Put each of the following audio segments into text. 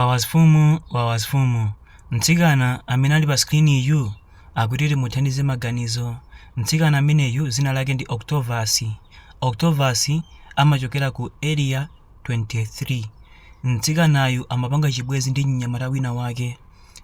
Wawas fumu wawas fumu mtsikana amene ali pa screen yu akuti timuthandize maganizo mtsikana ameneyu dzina lake ndi Octovus Octovus amachokera ku area 23 mtsikanayu amapanga chibwenzi ndi mnyamata wina wake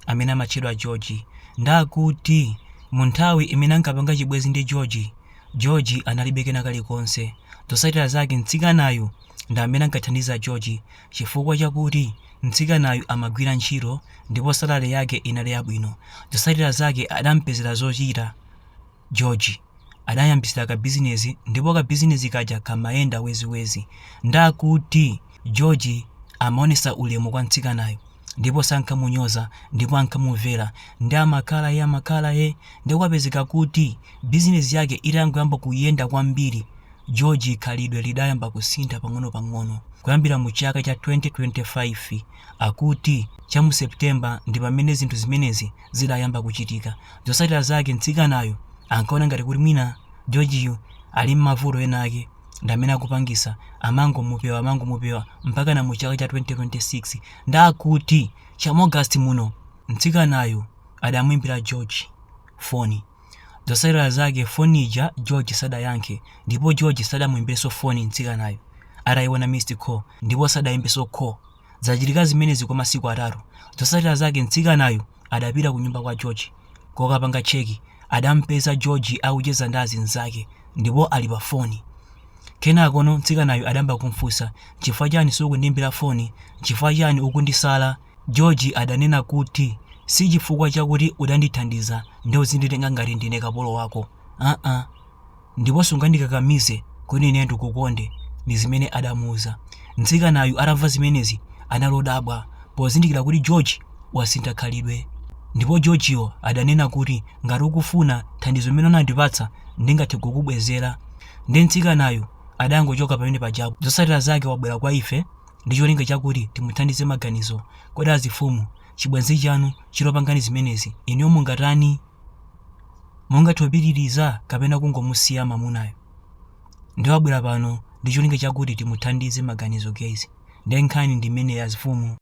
amene amatchedwa George nde akuti mu nthawi imene ankapanga chibwenzi ndi George George analibe kena kalikonse zotsatira zake mtsikanayu ndi amene ankathandiza George Chifukwa chakuti mtsikanayu amagwira ntchito ndipo salale yake inali yabwino, zotsatira zake adampezera zochita George. Adamuyambitsira kabizinezi ndipo kabizinezi kaja kamayenda weziwezi. Nde akuti George amaonetsa ulemu kwa mtsikanayu ndipo sankamunyoza ndipo ankamumvera nde amakhala he amakhala he nde kwapezeka kuti bizinezi yake itangoyamba kuyenda kwambiri, George khalidwe lidayamba kusintha pang'onopang'ono kuyambira mu chaka cha 2025. Akuti cha mu September ndi pamene zinthu zimenezi zidayamba kuchitika. Zotsatira zake mtsikanayu ankaona ngati kuti mwina Georgeyu ali m'mavuto ena ake ndi amene akupangitsa amangomupewa amangomupewa mpakana mu chaka cha 2026. Nde akuti cha mu August muno mtsikanayu adamuimbira George foni. Zotsatira zake phone ija George sadayankhe ndipo George sadamuimbirenso phone mtsikanayu ataiona missed call ndipo sadaimbenso call. Zachitika zimenezi kwa masiku atatu. Zotsatira zake mtsikanayu adapita kunyumba kwa George kokapanga check adamupeza George akucheza ndi azinzake ndipo ali pa phone. Kenakono mtsikanayu adayamba kumufunsa nchifukwa chani sukundiimbira phone? Nchifukwa chani ukundisala? George adanena kuti si chifukwa chakuti udandithandiza nde uzinditenga ngati ndine kapolo wako aa ndipo sungandikakamize kuti ine ndikukonde ndi zimene adamuuza. Mtsikanayu atamva zimenezi anali odabwa pozindikira kuti George wasintha khalidwe ndipo Georgeyo adanena kuti ngati ukufuna thandizo limene unandipatsa ndingathe kukubwezera nde mtsikanayu adangochoka pamene pajapo. Zotsatira zake wabwera kwa ife. ndi cholinga chakuti timuthandize maganizo. Kodi azifumu, chibwenzi chanu chitakupangani zimenezi, inuyo mungatani? Mungathe kupitiriza kapena kungomusiya mamunayo? Ndiye wabwera pano ndi cholinga chakuti timuthandize maganizo guys. Ndiye nkhani ndi imeneyi azifumu.